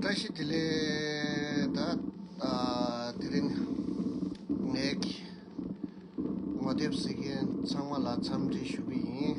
བཀྲ་ཤིས་བདེ་ལེགས་ད་དེ་རིང་ངའི་ངོ་དེབ་གཟིགས་མཁན་ཚང་མ་ལ་འཚམས་འདྲི་ཞུ་གི་ཡིན་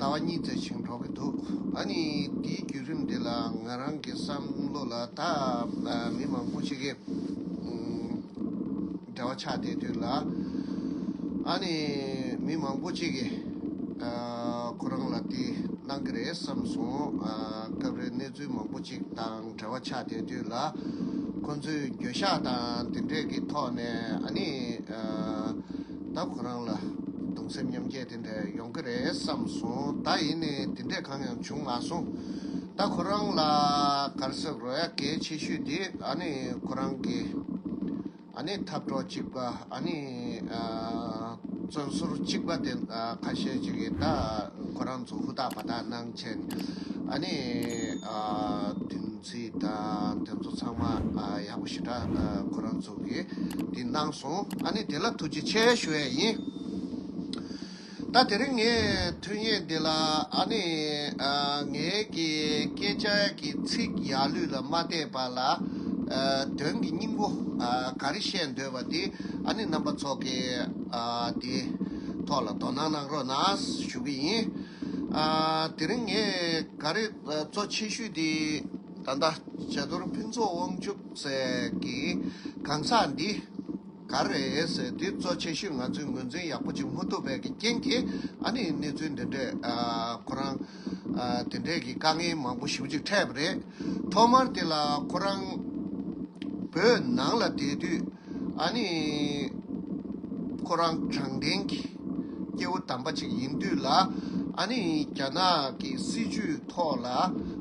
ཟླ་བ་གཉིས་ཚེ་ཞིང་འགྲོ་གི་འདུག་ད་ནི་དེའི་བརྒྱུད་རིམ་དེ་ལ་ང་རང་གི་བསམ་བློ་ལ་ད་མི་མང་པོ་ཞིག་གིས་འབྲེལ་བ་ཆགས་བསྡད་དུས་ལ་ཨ་ནི་མི་མང་པོ་ཅིག་གིས་ཁོ་རང་ལ་དེ་གནང་གི་རེད་བསམ་སོང་སྐབས་རེ་གནས་ཚུལ་མང་པོ་ཅིག་དང་འབྲེལ་བ་ཆགས་བསྡད་དུས་ལ་ཁོ་ཚོས་འགྱོད་བཤགས་དང་དེ་འདྲས་ཀྱི་ཐོག་ནས་ཨ་ནི། ད་ཁོ་རང་ལ་གདུང་སེམས་མཉམ་སྐྱེད་དེ་འདྲ་ཡོང་གི་རེད་བསམ་སོང་ད་ཡིན་ནའི་དེ་འདྲས་གང་ཡང་བྱུང་མ་སོང། ད་ཁོ་རང་ལ་གར་སོགས་རོ་ཡ་གལ་ཆེ་ཤོས་དེ་ཨ་ནི་ཁོ་རང་གི་ཨ་ནི་འཐབ་གྲོགས་གཅིག་པ་ཨ་ནི་བཙོན་ཟུར་གཅིག་པ་དེ་ཁ་ཤས་ཅིག་གིས་ད་ཁོ་རང་ཚོ་ཧུར་ཐག་བར་ཐག་གནང་ཆེད་ཨ་ནི། ཚེ་དང་དེ་ཚོ་ཚང་མ་ཡག་པོ་ཞེ་དྲག་ཁོ་རང་ཚོ་གིས་འདི་གནང་སོང་ཨ་ནི་དེ་ལ་ཐུགས་རྗེ་ཆེ་ཞུ་བས་ཡིན། ད་དེ་རིང་ངས་ཐུགས་ངེས་འདི་ལ་ཨ་ནི་ངའི་གི་སྐད་ཆ་གི་ཚིག་ཡག་ལུས་ལ་མ་བལྟས་པ་ལ་དོན་གི་སྙིང་པོ་ག་རེ་བཤད་འདོད་པ་འདི་ཨ་ནི་རྣམ་པ་ཚོགས་ཀྱི་འདི་ཐོག་ལ་དོ་སྣང་གནང་རོགས་གནང་ཞུ་གི་ཡིན། དེ་རིང་ངས་ག་རེ། གཙོ་ཆེ་ཤོས་དེ་ད་ལྟ་བྱ་དོར་ཕུན་ཚོགས་དབང་ཕྱུག་ཟེར་གི་གང་ཟག་འདི་ག་རེད་ཟེར་དུས་གཙོ་ཆེ་ཤོས་ང་ཚོས་ངོས་འཛིན་ཡག་པོ་བྱེད་མ་ཐུབ་པའི་རྐྱེན་གྱིས་ཨ་ནི་གནས་ཚུལ་འདི་འདྲས་ཁོ་རང་དེ་འདྲས་ཀྱི་དཀའ་ངལ་མང་པོ་ཞུ་ཅིག་འཕྲད་པ་རེད་ཐོག་མར་དེ་ལ་ཁོ་རང་བོད་ནང་ལ་བསྡད་དུས། ཨཱ་ནི། ཁོ་རང་དྲང་བདེན་གྱི་སྐྱེ་བོ་དམ་པ་ཅིག་ཡིན་དུས་ལ། ཨཱ་ནི། རྒྱ་ནག་གི་སྲིད་བྱུས་ཐོག་ལ་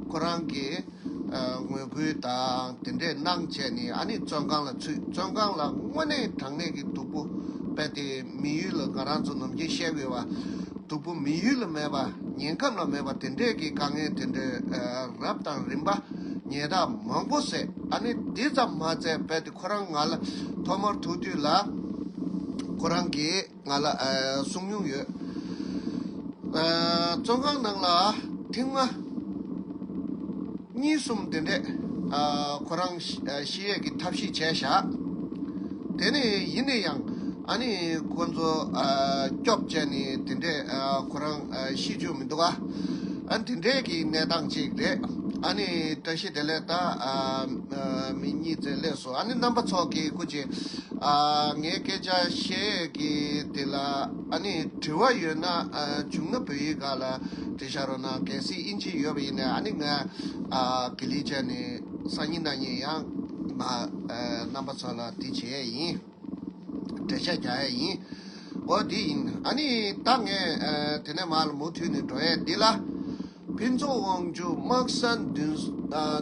ཁོ་རང་གི་ངོས་ཁུར་དང་དེ་འདྲས་གནང་བྱས་ནས་ཨཱ་ནི་བཙོན་ཁང་ལ་ཚུད་བཙོན་ཁང་ལ་དངོས་གནས་དྲང་གནས་ཀྱི་སྡུག་པོ་བས་ཏེ་མི་ཡུལ་ལ་ང་རང་ཚོ་ནམ་རྒྱུན་བཤད་དགོས་པ། སྡུག་པོ་མི་ཡུལ་ལ་མེད་པ་ཉེན་ཁམས་ལ་མེད་པ་དེ་འདྲས་ཀྱི་དཀའ་ངལ་དེ་འདྲས་རབ་དང་རིམ་པ་ཉེས་དག་མང་པོ་བསད་ཨཱ་ནི་དེ་ཙམ་མ་བསད་བས་ཏེ། ཁོ་རང་ང་ལ་ཐོག་མར་ཐུག་དུས་ལ། ཁོ་རང་གིས་ང་ལ་གསུངས་མྱོང་ཡོད། བཙོན་ཁང་ནང་ལ་ཐེངས་ལྔ། གཉིས་གསུམ་དེ་འདྲས་ཁོ་རང་ཤི་ཡས་ཀྱི་ཐབས་ཤེས་བྱས་བཞག། དེ་ནི་ཡིན་ནས་ཡང་ཨ་ནེ་ཁོ་ཚོ་སྐྱོབ་བྱས་ནས་དེ་འདྲས་ཁོ་རང། ཤེས་རྒྱུ་མི་འདུག་ཨ། ཨ་འདི་འདྲས་ཀྱི་གནས་སྟངས་ཅིག་རེད། ཨ་ནི་བཀྲ་ཤིས་བདེ་ལེགས་དང་མི་གཉིས་བརྩེ་ལེགས་སོ་ཨ་ནི་རྣམ་པ་ཚོགས་ཀྱི་སྐུ་ཅིག། ཨ་ངས་སྐད་ཆ་བཤད་ཀྱི་དེ་ལ་ཨ་ནི་དྲི་བ་ཡོད་ན་བྱུང་ན་བོད་ཡིག་ག་ལ་འབྲི་ཤག་རོགས་གནང་གལ་སྲིད་དབྱིན་ཇི་ཡོད་པ་ཡིན་ན་ཨ་ནི་ང་གི་ལི་ཅན་ནི་སང་ཉིན་ན་ཉིན་ཡང་ང་རྣམ་པ་ཚོ་ལ་འདི་བྱེད་ཡས་ཡིན། འབྲེལ་བཤད་རྒྱག་ཡས་ཡིན། འོ་དེ་ཡིན། ཨ་ནི་ད་ངས་དེ་ནས་མར་མུ་མཐུད་ནས་འགྲོ་ཡས་འདི་ལ། ཕུན་ཚོགས་དབང་ཕྱུག་དམག་ས་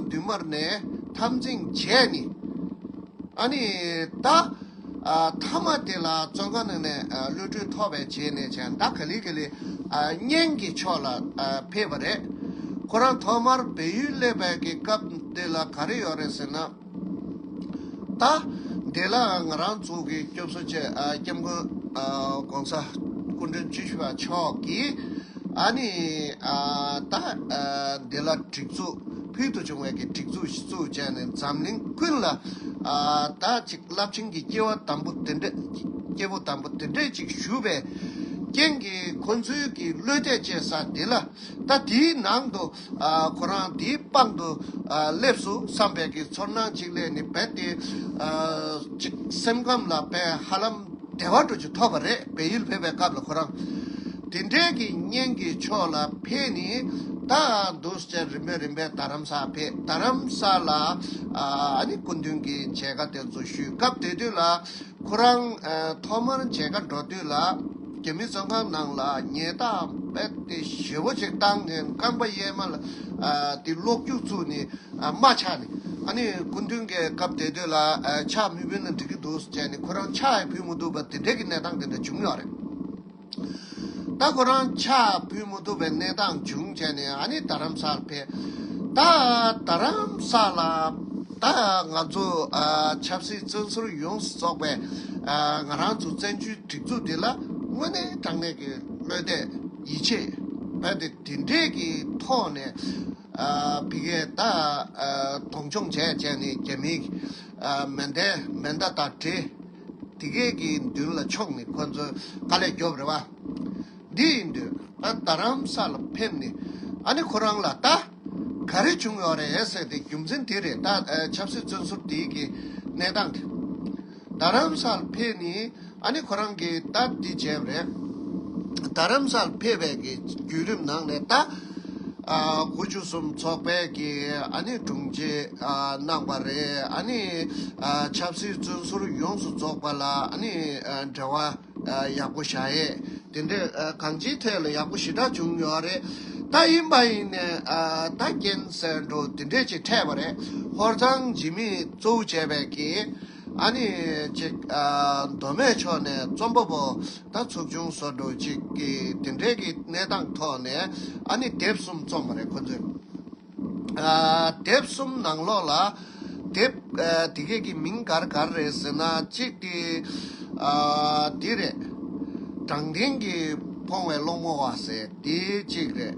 མདུན་མར་ནས་འཐབ་འཛིང་བྱས་ནི། ཨ་ནི་ད། མཐའ་མ་དེ་ལ་བཙོན་ཁང་ནང་ནས་གློད་གྲོལ་ཐོབ་པའི་རྗེས་ནས་བྱས་ད་ག་ལི་ག་ལི་གཉན་གྱི་ཕྱོགས་ལ་ཕེབས་པ་རེད། ཁོ་རང་ཐོག་མར་བལ་ཡུལ་སླེབས་པའི་སྐབས་དེ་ལ་ག་རེ་ཡོད་རེད་ཟེར་ན། ད་ལྟའི་ལ་ང་རང་ཚོ་གི་སྐྱོབ་གསོ་བྱེད་སྐྱབས་མགོན ྋགོང་ས་སྐུ་མགྲོན་བཅུ་བཞི་པ་མཆོག་གིས་ཨ་ནི་ད་ལྟའི་ལ་སྒྲིག་འཛུགས་ཕུལ་དུ་བྱུང་བའི་སྒྲིག་འཛུགས་ཤིག་བཙུགས་བྱས་ནས་འཛམ་གླིང་ཀུན་ལ་ད་ཅིག་རླབས་ཆེན་གྱི་སྐྱེ་བོ་དམ་པོ་དེ་འདྲས་ཅིག་ཞུ་བའི་རྐྱེན་གྱིས་ཁོ་ཚོའི་གི་བློས་གཏད་བཅས་ས་དེ་ལ་ད་དེའི་ནང་དུ། ཁོ་རང་དེའི་པང་དུ་སླེབས་སུ་བསམ་པའི་གི་ཚོར་སྣང་ཅིག་ལས་ནི་བེད་དེ། ཅིག་སེམས་ཁམས་ལ་བས་ཧ་ལམ་བདེ་བ་འགྲོ་རྒྱུ་ཐོབ་པ་རེད་བལ་ཡུལ་ཕེབས་པའི་སྐབས་ལ་ཁོ་རང། དེ་འདྲའི་གི་བརྙན་གི་ཕྱོགས་ལ་ཕེབས་ནི་ད་འདུག་ཟེར་རིམ་པས་རིམ་པས་རྡ་རམ་ས་ཕེབས་རྡ་རམ་ས་ལ་ཨ་ནི་སྐུ་མདུན་གི་མཇལ་ཁ་དེ་ཚོ་ཞུས་སྐབས་དེ་དུས་ལ། ཁོ་རང་ཐོག་མར་མཇལ་ཁ་འགྲོ་དུས་ལ་རྒྱ་མི་བཙོན་ཁང་ནང་ལ་ཉལ་སྟངས་དཔེ་དེབ་ཞེ་བོ་ཅིག་བཏང་ནས་རྐང་པ་གཡས་མ་ལ་དེ་གློག་རྒྱུག་བཙུགས་ནས་རྨ་ཆགས་ནས་ཨ་ནི་སྐུ་མདུན་གྱི་སྐབས་དེ་དུས་ལ་ཕྱག་མི་བུན་ལ་འགྲིག་གི་འདུག་བྱས་ནས་ཁོ་རང་ཕྱག་ཡང་ཕུལ་མི་འདུག་པ་དེ་འདྲའི་གི་གནས་སྟངས་དེ་འདྲ་བྱུང་ཡོད་རེད། ད་ཁོ་རང་ཕྱག་ཕུལ་མི་ཐུབ་པའི་གནས་སྟངས་བྱུང་བྱས་ནས་ཨ་ནི་རྡ་རམ་སར་ཕེབས། ད་རྡ་རམ་ས་ལ་ད་ང་ཚོ་ཆབ་སྲིད་བཙོན་ཟུར་ཡོངས་སུ་རྫོགས་པའི་ང་རང་ཚོ་བཙན་བྱོལ་སྒྲིག་འཛུགས་འདི་ལ་དངོས་གནས་དྲང་གནས་ཀྱི་བློས་གཏད་ཡིད་ཆེས་བས་ཏེ་དེ་འབྲེལ་གྱི་ཐོག་ནས་བི་ཀའི་ད་གདོང་མཆོངས་བྱས་བྱས་ནས་རྒྱ་མིའི་མེ་མདའ་དང་འདྲེ། དེ་སྐད་ཀྱི་མདུན་ལ་ཕྱོགས་ནས་ཁོ་ཚོས་དཀའ་ལས་རྒྱོབ་རེ་བ། འདི་ཡིན་དུས་ང་རྡ་རམ་ས་ལ་ཕེབས་ནས་ཨ་ནེ་ཁོ་རང་ལ་ད་ག་རེ་བྱུང་ཡོད་རེད་ཟེར་ཏེ་རྒྱུ་མཚན་དེ་རེད་ད་ཆབ་སྲིད་བཙོན་ཟུར་དེའི་གི་གནས་སྟངས་དེ། རྡ་རམ་ས་ལ་ཕེབས་ནས་ཨ་ནེ་ཁོ་རང་གིས་ད་འདི་བྱས་པ་རེད། རྡ་རམ་ས་ལ་ཕེབས་པའི་གི་བརྒྱུད་རིམ་ནང་ནས་ད། དགུ་བཅུ་གསུམ་ཚོགས་པས་ཀྱིས་དྲུང་ཆེ་གནང་བ་རེད། ཆབ་སྲིད་བཙོན་ཟུར་ཡོངས་སུ་རྫོགས་པ་ལ་འབྲེལ་བ་ཡག་པོ་བྱ་ཡས། དེ་འདྲས་གང་ཅིའི་ཐད་ལ་ཡག་པོ་ཞི་དྲག་བྱུང་ཡོད་རེད། ད་ཡིན་པ་ཡིན་ནས་ད་རྐྱེན་སེལ་འགྲོ་དེ་འདྲས་ཅིག་འཕྲད་པ་རེད། ཧོར་གཙང་འཇིགས་མེད་གཙོ་བོ་བྱས་པས་ཀྱིས། ཨ་ནི། ཅིག། མདོ་སྨད་ཕྱོགས་ནས་རྩོམ་པ་པོ་དང་ཚོགས་ཆུང་བཟོ་འགྲོ་ཅིག་གིས་དེ་འབྲེལ་གྱི་གནས་སྟངས་ཐོག་ནས་ཨ་ནི་དེབ་གསུམ་རྩོམ་པ་རེད་ཁོ་ཚོས། དེབ་གསུམ་ནང་ལོགས་ལ། དེབ། དེ་སྐད་ཀྱི་མིང་གར་གར་རེད་ཟེར་ན་གཅིག་དེ། འདི་རེད། དྲང་བདེན་གྱི་ཕོང་བའི་སློང་མོ་བ་ཟེར་དེ་གཅིག་རེད།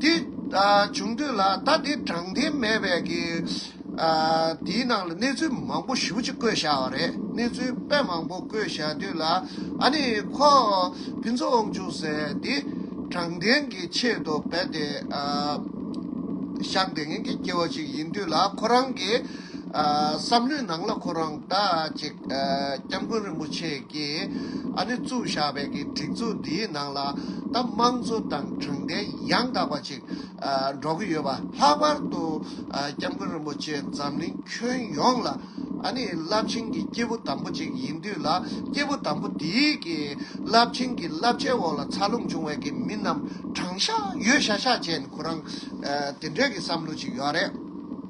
དེ་བྱུང་དུས་ལ་ད་དེ་དྲང་བདེན་མེད་པས་ཀྱི། དེའི་ནང་ལ་གནས་ཚུལ་མང་པོ་ཞིབ་ཅིག་བཀོད་བཞག་བ་རེད། གནས་ཚུལ་དཔེ་མང་པོ་བཀོད་བཞག་དུས་ལ་ཨ་ནི་ཁོ་ཕན་ཚུན་དབང་ཕྱུག་ཟེར་དེ་དྲང་བདེན་གྱི་ཆེད་དུ་བས་ཏེ། ཤག་འདེད་མཁན་གྱི་སྐྱེ་བོ་ཅིག་ཡིན་དུས་ལ་ཁོ་རང་གི། བསམ་ལུས་ནང་ལ་ཁོ་རང་ལྟ་ཅིག། སྐྱབས་མགོན་རིན་པོ་ཆེ་ཀྱིས་ཨ་ནེ་བཙུགས་བཞག་པའི་གི་སྒྲིག་འཛུགས་འདིའི་ནང་ལ་ད་དམངས་གཙོ་དང་དྲང་བདེན་ཡང་དག་པ་ཅིག་འགྲོ་གི་ཡོད་པ་ལྷག་པར་དུ་སྐྱབས་མགོན་རིན་པོ་ཆེ་འཛམ་གླིང་ཁྱོན་ཡོངས་ལ་ཨ་ནེ་རླབས་ཆེན་གྱི་སྐྱེས་བུ་དམ་པོ་ཅིག་ཡིན་དུས་ལ་སྐྱེས་བུ་དམ་པོ་འདིའི་གི་རླབས་ཆེན་གྱི་བསླབ་བྱའི་འོག་ལ་འཚར་ལོངས་བྱུང་བའི་གི་མི་རྣམས་དྲང་ཤག་ཡོད་ཤག་ཤག་ཅན་ཁོ་རང་དེ་འདྲའི་གི་བསམ་བློ་ཅིག་ཡོད་རེད།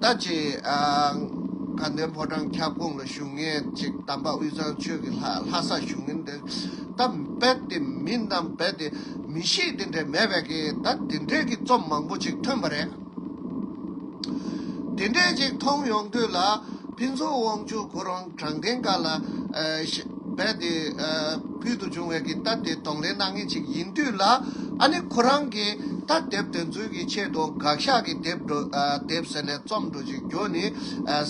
ད་ཅི། དགའ་ལྡན་ཕོ་བྲང་ཁྱབ་ཁོངས་ལ་བཞུགས་ངེས་ཅིག་དམ་པ་དབུས་གཙང་ཆོས་ཀྱི་ལྷ་ལྷ་སར་བཞུགས་ངེས་འདི་ད་རྦད་དེ་མིན་དམ་རྦད་དེ་མི་ཤེས་དེ་འདྲས་མེད་པས་ཀྱི་ད་དེ་འདྲས་ཀྱི་རྩོམ་མང་པོ་ཅིག་ཐོན་པ་རེད། དེ་འདྲས་ཅིག་མཐོང་ཡོང་དུས་ལ་ཕིན་ཚོགས་དབང་ཕྱུག་ཁོ་རང། དྲང་བདེན་དགའ་ལ། རྦད་དེ། ཕུལ་དུ་བྱུང་བའི་གི་རྟ་དེ་གདོང་ལེན་གནང་ངེས་ཅིག་ཡིན་དུས་ལ། ཨ་ནི་ཁོ་རང་གི་རྟ་འདེབས་དོན་ཚུལ་གྱི་ཆེད་དུ་དགག་ཞག་གི་དེབ་འགྲོ། དེབ་ཟེར་ལས་རྩོམ་འགྲོ་ཅིག་རྒྱུ་ནི།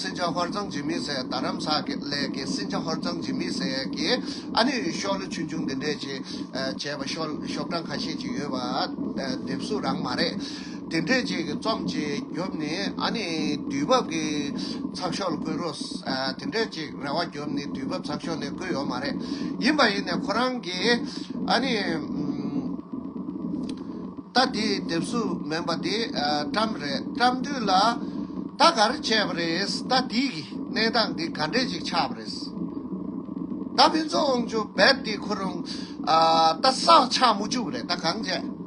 སྲིན་བྱ་ཧོར་གཙང་འཇིམ་མི་སེར་རྡ་རམ་ས་ལའི་གི་སྲིན་བྱ་ཧོར་གཙང་འཇིམ་མི་སེར་གྱིས་ཨ་ནི་ཤོག་ལོ་ཆུང་ཆུང་འདི་འདྲས་ཅིག་བྱས་པ། ཤོག་གྲངས་ཁ་ཤས་ཅིག་ཡོད་པ། དེབ་གཟུགས་རང་མ་རེད། དེ་འདྲས་ཅིག་རྩོམ་གྱིས་རྒྱོབ་ནི་ཨ་ནི་དུས་བབ་ཀྱི་ཚགས་ཤོག་ལ་བསྐུར་རོགས། དེ་འདྲས་ཅིག་རེ་བ་རྒྱོབ་ནི་དུས་བབ་ཚགས་ཤོག་ནས་བསྐུར་ཡོད་མ་རེད། ཡིན་པ་ཡིན་ནས་ཁོ་རང་གིས་ཨ་ནི། ད་དེ་དེབ་གཟུགས་མིན་པ་དེ་བཀྲམས་རེད་བཀྲམས་དུས་ལ། ད་ག་རེ་བྱས་པ་རེད་ད་དེའི་གནས་སྟངས་དེ་ག་འདྲས་ཅིག་ཆགས་པ་རེད། ད་ཕན་ཚུན་དབང་ཆུ་རྦད་དེ་ཁོ་རང་ད་བསགས་ཆགས་མུ་ཅུག་རེད་ད་གང་བྱས།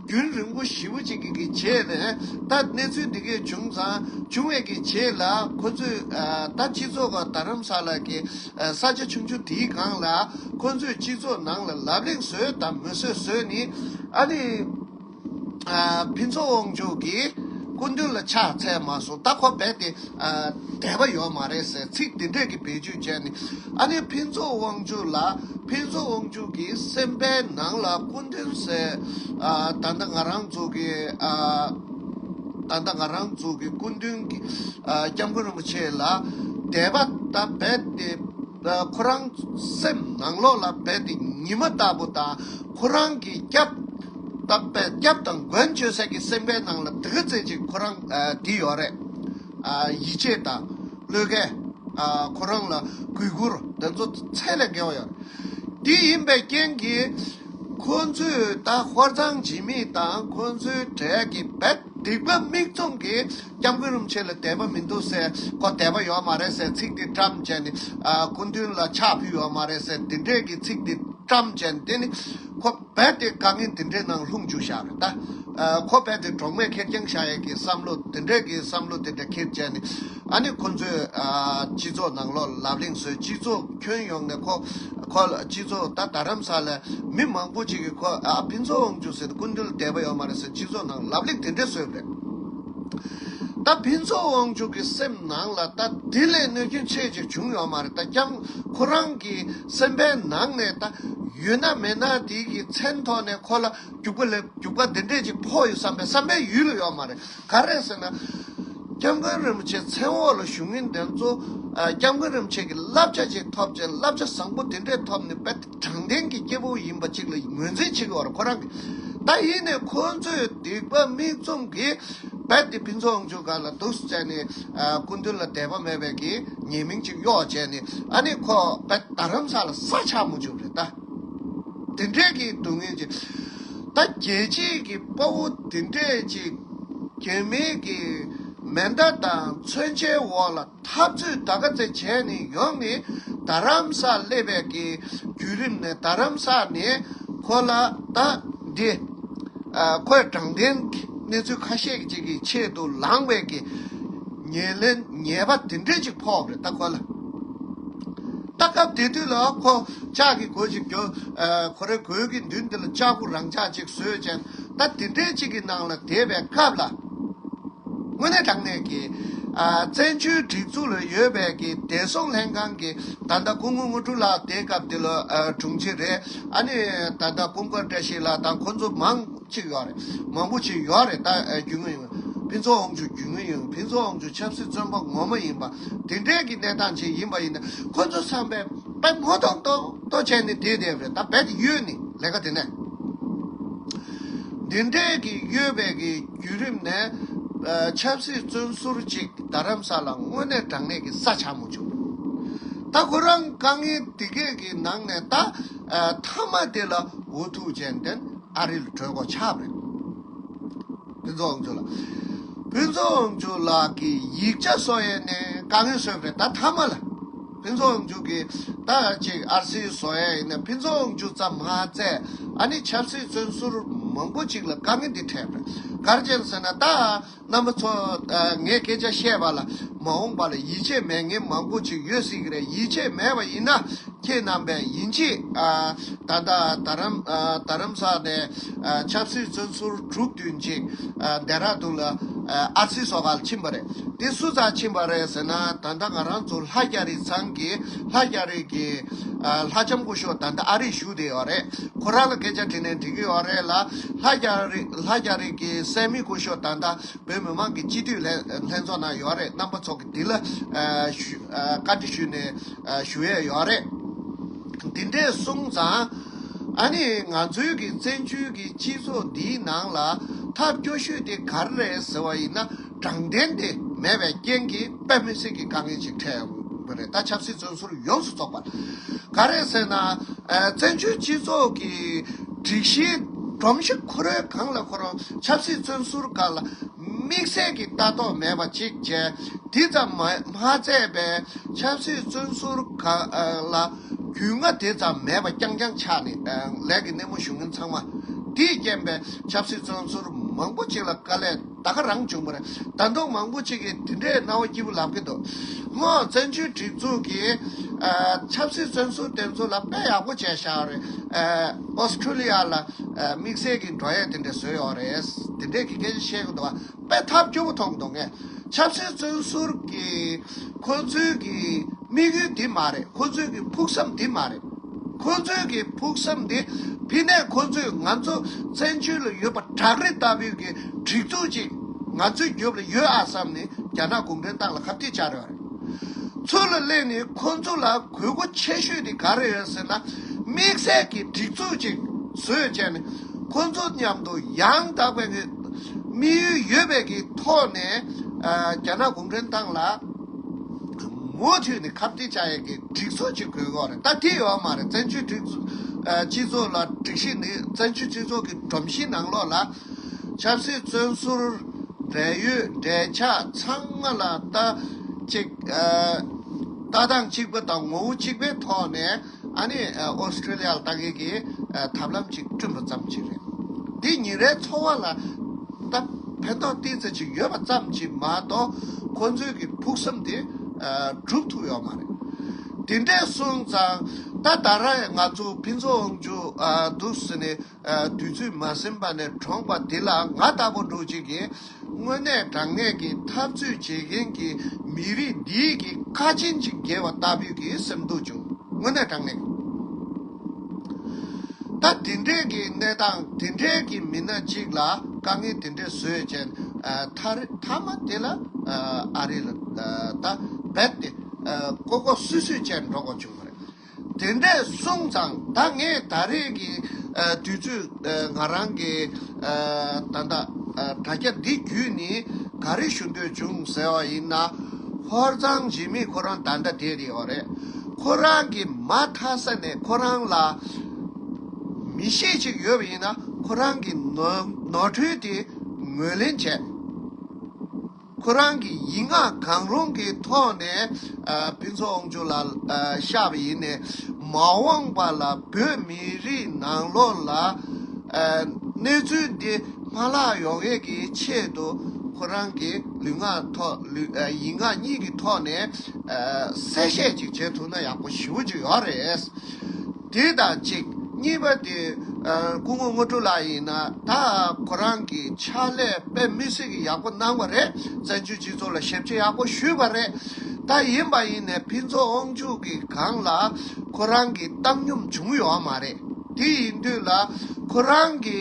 རྒྱུན་རིང་པོ་ཞིབ་པོ་ཅིག་གིས་བྱས་ནས་ད་གནས་ཚུལ་འདི་སྐད་བྱུང་ཙང་བྱུང་བས་ཀྱི་བྱས་ལ་ཁོ་ཚོས་ད་སྤྱི་ཚོགས་ཁག་རྡ་རམ་ས་ལ་གི་ས་ཆ་ཆུང་ཆུང་དེའི་སྒང་ལ་ཁོ་ཚོས་སྤྱི་ཚོགས་ནང་ལ་ལབ་གླེང་བཟོས་དང་མི་བཟོས་བཟོས་ནི་ཨ་ནི་ཕིན་ཚོགས་དབང་ཕྱུག་གི་སྐུ་མདུན་ལ་ཕྱག་འཚལ་མ་སོང་ད་ཁོ་རྦད་དེ། དད་པ་ཡོད་མ་རེད་ཟེར་ཚིག་དེ་འདྲས་ཀྱི་བེད་སྤྱོད་བྱས་ནས་ཨ་ནེ་ཕུན་ཚོགས་དབང་ཕྱུག་ལ་ཕུན་ཚོགས་དབང་ཕྱུག་གི་སེམས་པའི་ནང་ལ་སྐུ་མདུན་ཟེར་ད་ལྟ་ང་རང་ཚོ་གི་ད་ལྟ་ང་རང་ཚོ་གི་སྐུ་མདུན་སྐྱབས་མགོན་རིན་པོ་ཆེ་ལ་དད་པ་ད་རྦད་དེ། ཁོ་རང་སེམས་ནང་ལོགས་ལ་རྦད་དེ་ཉི་མ་ལྟ་བུ་དང་ཁོ་རང་གི་སྐྱབས་དང་མགོན་མཆོད་སྲེད་ཀྱི་སེམས་ཁའི་ནང་ལ་དེ་ག་ཚེ་གཅིག་ཁོ་རང་དེ་ཡོད་རེད། ཡིད་ཆེས་དང་བློས་བཀལ། ཁོ་རང་ལ་གུས་བཀུར་དེ་ཚོ་ཚད་ལས་བརྒལ་བ་ཡོད་རེད། དེ་ཡིན་པའི་རྐྱེན་གྱིས་ཁོ་ཚོས་ད་ཧོར་ཚང་འཇིགས་མེད་དང་ཁོ་ཚོའི་གྲས་ཀྱི་རྦད་དེ་སྡིག་པ་མིག་བཙུམ་གྱིས་སྐྱབས་མགོན་རིན་པོ་ཆེ་ལ་དད་པ་མི་འདུག་ཟེར་ཁོ་དད་པ་ཡོད་མ་རེད་ཟེར་ཚིག་འདི་བཀྲམ་བྱས་ནས་སྐུ་མདུན་ལ་ཕྱག་ཕུལ་ཡོད་མ་རེད་ཟེར་འདི་འདྲས་ཀྱི་ཚིག་འདི་བཀྲམ་བྱས་ནས་དེ་ནི་ཁོ་རྦད་དེ་དཀའ་ངལ་འདི་འདྲའི་ནང་ལྷུང་འཇུག་བཞག་རེད་ད། ཁོ་རྦད་དེ་གྲོགས་མེད་ཁེར་རྐྱང་བཞག་ཡས་ཀྱི་བསམ་བློ་འདི་འདྲས་ཀྱི་བསམ་བློ་འདི་འདྲ་ཁེར་བྱས་ནས་ཨ་ནི་ཁོ་ཚོས་སྤྱི་ཚོགས་ནང་ལོག་ལབ་གླེང་བཟོས་སྤྱི་ཚོགས་ཁྱོན་ཡོངས་ནས་ཁོ་ཁོ་ལ་སྤྱི་ཚོགས་ད་རྡ་རམ་ས་ལ་མི་མང་པོ་ཅིག་གིས་ཁོ་ཨ་ཕིན་ཚོགས་འོང་འཇུག་ཟེར་ནས་སྐུ་མདུན་ལ་དད་པ་ཡོད་མ་རེད་ཟེར་སྤྱི་ཚོགས་ནང་ལབ་གླེང་དེ་འདྲས་བཟོས་པ་རེད། ད་ཕན་ཚུན་དབང་ཕྱུག་གི་སེམས་ནང་ལ་ད་དེ་ལས་གནོད་སྐྱོན་ཆེ་གཅིག་བྱུང་ཡོད་མ་རེད་ད་ཀྱང་ཁོ་རང་གི་སེམས་པའི་ནང་ནས་ད་ཡོད་ན་མེད་ན་དེ་གི་མཚན་ཐོག་ནས་ཁོ་ལ་རྒྱུག་པ་ལས་རྒྱུག་པ་དེ་འདྲས་ཅིག་ཕོག་ཡོད་བསམ་པའི་བསམ་པའི་ཡུལ་ཡོད་མ་རེད་ག་རེད་ཟེར་ན། སྐྱབས་མགོན་རིན་པོ་ཆེ་མཚན་འོག་ལ་བཞུགས་མཁན་དེ་ཚོ་སྐྱབས་མགོན་རིན་པོ་ཆེ་གི་བསླབ་བྱ་ཅིག་ཐོབ་ཅིང་བསླབ་བྱ་བཟང་པོ་དེ་འདྲས་ཐོབ་ནས་དཔེ་དྲང་བདེན་གྱི་སྐྱེ་བོ་ཡིན་པ་ཅིག་ལ་ངོས་འཛིན་བྱེད་དགོས་པར་ཁོ་རང་གི། ད་ཡིན་ནས་ཁོ་ཚོས་སྡིག་པ་མིག་བཙུམ་གྱིས་རྦད་དེ་ཕུན་ཚོགས་ཨང་ཆུ་སྒར་ལ་འདུག་བསམ་ནས་སྐུ་མདུན་ལ་དད་པ་མེད་པའི་གྱི་ཉེས་མིང་ཅིག་གཡོག་བྱས་ནས་ཨ་ནི་ཁོ་རྦད་རྡ་རམ་ས་ལ་ས་ཆ་མོ་འཇུག་རེད་ད། དེ་འདྲའི་གྱི་སྡུག་བསྔལ་ཅིག། ད་རྒྱལ་སྤྱིའི་གྱི་དཔའ་བོ་དེ་འདྲས་ཅིག་རྒྱལ་མིའི་གྱི་མེ་མདའ་དང་མཚོན་ཆའི་འོག་ལ། འཐབ་རྩོད་ད་ག་ཚེ་བྱས་ནས་ཡོང་ནས་རྡ་རམ་ས་སླེ་བས་ཀྱི་བརྒྱུད་རིམ་ནི་རྡ་རམ་ས་ནས་ཁོ་ལ་ད་འདི་ཁོའི་དྲང་བདེན་གྱི་གནས་ཚུལ་ཁ་ཤས་ཅིག་གི་ཆེད་དུ་ལངས་བས་ཀྱི་ཉེས་ལེན་ཉེས་པ་དེ་འདྲས་ཅིག་ཕོག་རེད་ད་ཁོ་ལ་ད་སྐབས་དེ་དུས་ལ་ཁོ་ཅག་གི་གོས་ཅིག་གྱོན་ཁོ་རའི་གོས་ཀྱི་མདུན་དེ་ལ་ལྕགས་ཕུ་རང་འཇགས་ཅིག་བཟོས་ཅན་ད་དེ་འདྲས་ཅིག་གི་ནང་ལ་དེད་པའི་སྐབས་ལ། དངོས་གནས་དྲང་གནས་ཀྱི། བཙན་བྱོལ་སྒྲིག་འཛུགས་ལ་ཡོད་པའི་གི་བདེ་སྲུང་ལྷན་ཁང་གི་ད་ལྟ་སྐུ་ངོ་དངོས་གྲུབ་ལགས་དེའི་སྐབས་དེ་ལོ་དྲུང་ཆེ་རེད་ཨ་ནི་ད་ལྟ་སྐུ་མཁར་བཀྲ་ཤིས་ལགས་དང་ཁོང་ཚོ་མང་གཅིག་ཡོད་རེད་མང་པོ་ཅིག་ཡོད་རེད་ད་རྒྱུས་ངོ་ཡིན་ཕིན་ཚོ་ཨོང་ཆུ་རྒྱུས་ངོ་ཡིན་ཕིན་ཚོ་ཨོང་ཆུ་ཆབ་སྲིད་བཙོན་པ་ངོ་མ་ཡིན་པ་དེ་འདྲའི་གི་གནས་སྟངས་ཅིག་ཡིན་པ་ཡིན་ན་ཁོང་ཚོ་བསམ་པའི་པའི་ངོ་གཏོགས་གཏོགས་གཏོགས་བྱས་ནི་དེ་དེབ་རེད་ད་བད་དེ་ཡོད་ནི་ལས་ཀ་དེ་ནས། འདི་འདྲའི་གི་གཡོལ་བའི་གི་བརྒྱུད་རིམ་ནས། ཆབ་སྲིད་བཙོན་ཟུར་ཅིག་རྡ་རམ་ས་ལ་དངོས་གནས་དྲང་གནས་གི་ས་ཆ་མོ་བྱུང། ད་ཁོ་རང་དཀའ་ངལ་འདི་སྐད་གི་ནང་ནས་ད་མཐའ་མ་དེ་ལ་འུ་ཐུག་ཅན་བདེན་ཨ་རིལ་གྲོས་མགོ་ཆགས་རེད། ཕུན་ཚོགས་ཨང་ཅུ་ལགས། ཕུན་ཚོགས་ཨང་ཅུ་ལགས་གི་ཡིག་ཆ་སོ་ཡས་ནས་དཀའ་ངལ་སོས་རེད་ད་མཐའ་མ་ལ། ཕུན་ཚོགས་མཇུག་གི་རྟགས་གཅིག་ཨར་སིའི་བཟོ་ཡ་ཡིན་ན་ཕུན་ཚོགས་མཇུག་ཙམ་མ་བཙལ་ཨ་ནི་ཆབ་སྲིད་བཙོན་ཟུར་མང་པོ་ཅིག་ལ་དཀའ་ངལ་འདི་འཕྲད་མེད་གར་མཇལ་ཟེར་ན་རྟགས་རྣམ་པ་ཚོ་ངས་སྐད་ཆ་བཤད་པ་ལ་མ་འོངས་པ་ལ་ཡིད་ཆེས་མེད་ངེས་མང་པོ་ཅིག་ཡོད་སྲིད་ཀྱི་རེད་ཡིད་ཆེས་མེད་པ་ཡིན་ན་ཁྱེད་རྣམ་པས་ཡིན་གཅིག་ད་ལྟ་རམ་ས་ནས། ཆབ་སྲིད་བཙོན་ཟུར་དྲུག་དུས་མཇུག་རྡེ་ར་རྡུང་ལ་ཨར་སི་སོག་ལ་ཕྱིན་པ་རེད། དེ་སུ་ཚ་ཕྱིན་པ་རེད་ཟེར་ན་ད་ལྟ་ང་རང་ཚོ་ལྷ་རྒྱ་རིགས་ཚང་གི་ལྷ་རྒྱ་རིགས་ཀྱི་ལྷ་ལྕམ་སྐུ་ཤོག་ད་ལྟ་ཨ་རིས་བཞུགས་བསྡད་ཡོད་རེད་ཁོ་རང་ལ་སྐད་ཆ་དྲིས་ནས་འདྲི་གི་ཡོད་རེད་ལ་ལྷ་རྒྱ་རིགས་ལྷ་རྒྱ་རིགས་ཀྱི་སད་མི་སྐུ་ཤོག་ད་ལྟ་བོད་མི་མང་གི་སྤྱི་འཐུས་ལྷན་ཚོགས་ནང་ཡོད་རེད་རྣམ་པ་ཚོགས་ཀྱི་དེ་ལ་བཀའ་འདྲི་ཞུས་ནས་ཞུ་ཡས་ཡོད་རེད། འདི་འདྲས་གསུངས་ཙང། ཨ་ནི་ང་ཚོའི་གི་བཙན་བྱོལ་གི་སྤྱི་ཚོགས་འདིའི་ནང་ལ་ཐབས་སྐྱོ་ཤོས་དེ་ག་རེ་རེད་ཟེར་བ་ཡིན་ན་དྲང་བདེན་དེ་མེད་པའི་རྐྱེན་གྱིས་དཔེ་མི་སྲིད་ཀྱི་དཀའ་ངལ་ཅིག་འཕྲད་ཡོང་གི་རེད་ད་ཆབ་སྲིད་བཙོན་ཟུར་ཡོངས་སུ་རྫོགས་པ་ག་རེད་ཟེར་ན་བཙན་བྱོལ་སྤྱི་ཚོགས་གི་སྒྲིག་གཞིའི་སྒྲོམ་གཞི་ཁུ་རོལ་གང་ལ་ཁོ་རང་ཆབ་སྲིད་བཙོན་ཟུར་ག་ལ་དམིགས་བསལ་གྱི་ལྟ་རྟོག་མེད་པ་ཅིག་བྱས་འདི་ཙམ་མ་མཛད་པའི་ཆབ་སྲིད་བཙོན་ཟུར་ག་ལ། རྒྱུས་མངའ་དེ་ཙམ་མེད་པ་རྐྱང་རྐྱང་ཆགས་ནས་ལས་ཀྱི་སྣེ་མོ་ཞུགས་མཁན་ཚང་མ། དེས་རྐྱེན་པས་ཆབ་སྲིད་བཙོན་ཟུར་མང་པོ་ཅིག་ལ་དཀའ་ལས་ད་ག་རང་བྱུང་པ་རེད་དང་མདོག་མང་པོ་ཅིག་གིས་དེ་འདྲའི་སྣང་བ་སྐྱིད་པོ་ལབ་ཀྱི་འདུག་སྔོན་བཙན་བྱོལ་སྒྲིག་འཛུགས་ཀྱིས་ཆབ་སྲིད་བཙོན་ཟུར་དེ་ཚོ་ལ་དཔེ་ཡག་པོ་བྱས་ཤག་རེད། ཨོསྟྲེ་ལི་ཡ་ལ་དམིགས་བསལ་གྱི་འགྲོ་ཡས་དེ་འདྲས་བཟོས་ཡོད་རེད། དེ་འདྲས་ཀྱི་སྐད་ཆ་བཤད་ཀྱི་འདུག་བ། པའི་ཐབས་སྐྱོ་བོ་ཐོབ་འདུག་ངས་ཆབ་སྲིད་བཙོན་ཟུར་གྱི་ཁོ་ཚོའི་གི་དམིགས་ཡུལ་འདི་མ་རེད་ཁོ་ཚོའི་གི་ཕུགས་བསམ་འདི་མ་རེད། ཁོ་ཚོའི་གི་ཕུགས་བསམ་འདི་ཕི་ནས་ཁོ་ཚོས་ང་ཚོ་བཙན་བྱོལ་ལ་ཡོད་པ་བྲག་རི་ལྟ་བུའི་གི་སྒྲིག་འཛུགས་ཅིག་ང་ཚོའི་རྒྱུབ་ལ་ཡོད་ཨ་བསམ་ནས་རྒྱ་ནག་གུང་ཁྲན་ཏང་ལ་ཁ་བསྟི་བྱ་རེད་བ་རེད། ཚུར་ལ་གླེང་ནས་ཁོ་ཚོ་ལ་གུས་བཀུར་ཆེ་ཤོས་འདི་ག་རེ་རེད་ཟེར་ན་དམིགས་བསལ་གི་སྒྲིག་འཛུགས་ཅིག་བཟོས་བྱས་ནས་ཁོ་ཚོ་མཉམ་དུ་ཡང་དག་པའི་དམིགས་ཡུལ་ཡོད་པའི་ཀྱི་ཐོག་ནས་རྒྱ་ནག་གུང་ཁྲན་ཏང་ལ་མུ་མཐུད་ནས་ཁ་བྲལ་བྱ་ཡས་ཀྱི་སྒྲིག་འཛུགས་གཅིག་དགོས་གོ་རེད་ད་དེ་ཡོད་མ་རེད་བཙན་བྱོལ་སྒྲིག་སྤྱི་ཚོགས་ལ་སྒྲིག་གཞི་ནི་བཙན་བྱོལ་སྤྱི་ཚོགས་ཀྱི་སྒྲོམ་གཞིའི་ནང་ལོགས་ལ་ཆབ་སྲིད་བཙོན་ཟུར་འབྲེལ་ཡོད་འབྲེལ་ཆགས་ཚང་མ་ལ་ལྟ་གཅིག་ལྟ་སྟངས་གཅིག་པ་དང་ངོ་བོ་གཅིག་པའི་ཐོག་ནས། ཨ་ནི Australia ལ་ལྟ་མཁན་གྱི་ཐབས་ལམ་ཅིག་བསྐྲུན་པ་ཙམ་གྱིས་རེད། འདིས་ཉིན་རེའི་འཚོ་བ་ལ་ད་ཕན་ཐོགས་ཏིང་ཚེ་ཅིག་ཡོད་པ་ཙམ་གྱིས་མ་གཏོགས་ཁོ་ཚོའི་གི་ཕུགས་བསམ་དེ་འགྲུབ་ཐུབ་ཡོད་མ་རེད། དེ་འདྲས་སོང་ཙང་ད་ད་ར་ང་ཚོ་ཕན་ཚུན་འོང་རྒྱུ་འདུག་ཟེར་ནས། དུས་ཚོད་མ་ཟིན་པ་ནས་གྲོངས་པ་དེ་ལ་ང་ལྟ་བུ་འབྲོག་ཅིག་གིས་དངོས་གནས་དྲང་ངེས་ཀྱི་འཐབ་རྩོད་བྱེད་མཁན་གྱི་མི་རིགས་འདིའི་གི་ཁ་ཆེན་ཅིག་བརྒལ་བ་ལྟ་བུའི་གི་སེམས་སྡུག་བྱུང། དངོས་གནས་དྲང་ངེས། ད་དེ་འདྲའི་གི་གནས་སྟངས་དེ་འདྲའི་གི་མི་སྣ་ཅིག་ལ་དཀའ་ངལ་དེ་འདྲའི་བཟོས་ཅན་མཐའ་རེ་མཐའ་མ་དེ་ལ་ཨ་རི་ལ་ད་རྦད་དེ་ཀོ་ཀོ་སུད་སུད་ཅན་འགྲོ་དགོས་བྱུང་བ་རེད། དེ་འདྲས་གསུངས་ཙང་ད་ངས་ད་རེས་ཀྱི་དུས་ཚོད་ང་རང་གི་ད་ལྟ་དྲ་རྒྱ་འདི་བརྒྱུད་ནས་ག་རེ་ཞུ་འདོད་བྱུང་ཟེར་བ་ཡིན་ན། ཧོར་གཙང་འཇིགས་མེད་ཁོ་རང་ད་ལྟ་དེ་རེད་བ་རེད། ཁོ་རང་གི་མ་མཐའ་ས་ནས་ཁོ་རང་ལ་མི་ཤེས་ཅིག་ཡོད་པ་ཡིན་ན་ཁོ་རང་གི་ནོར་འཁྲུལ་དེ་ངོས་ལེན་བྱས། ཁོ་རང་གི་ཡིག་ངག་གང་རུང་གི་ཐོག་ནས་ཕུན་ཚོགས་དབང་ཕྱུག་ལ་ཤར་བ་ཡིན། མ་འོངས་པ་ལ་བོད་མི་རིགས་ནང་ལོགས་ལ་གནས་ཚུལ་འདི་མ་ལྷག་ཡོང་ཡས་ཀྱི་ཆེད་དུ་ཁོ་རང་གི་ལུས་ངག་ཐོག་ཡིག་ངག་གཉིས་ཀྱི་ཐོག་ནས་གསལ་བཤད་ཅིག་བྱེད་ཐུབ་ན་ཡག་པོ་ཞུ་གི་ཡོད་རེད། དེ་དང་གཅིག་གཉིས་པ་དེ་སྐུ་ངོ་དངོས་གྲུབ་ལགས་ཡིན་ན་ད་ཁོ་རང་གི་ཕྱག་ལས་དཔེ་མི་སྲིད་གི་ཡག་པོ་གནང་བ་རེད་བཙན་བྱོལ་སྤྱི་ཚོགས་ལ་ཞབས་ཕྱི་ཡག་པོ་ཞུས་པ་རེད་ད་ཡིན་པ་ཡིན་ནས་ཕིན་ཚོགས་དབང་ཕྱུག་གི་སྒང་ལ་ཁོ་རང་གི་བཏང་སྙོམས་བྱུང་ཡོད་མ་རེད་དེ་ཡིན་དུས་ལ་ཁོ་རང་གི་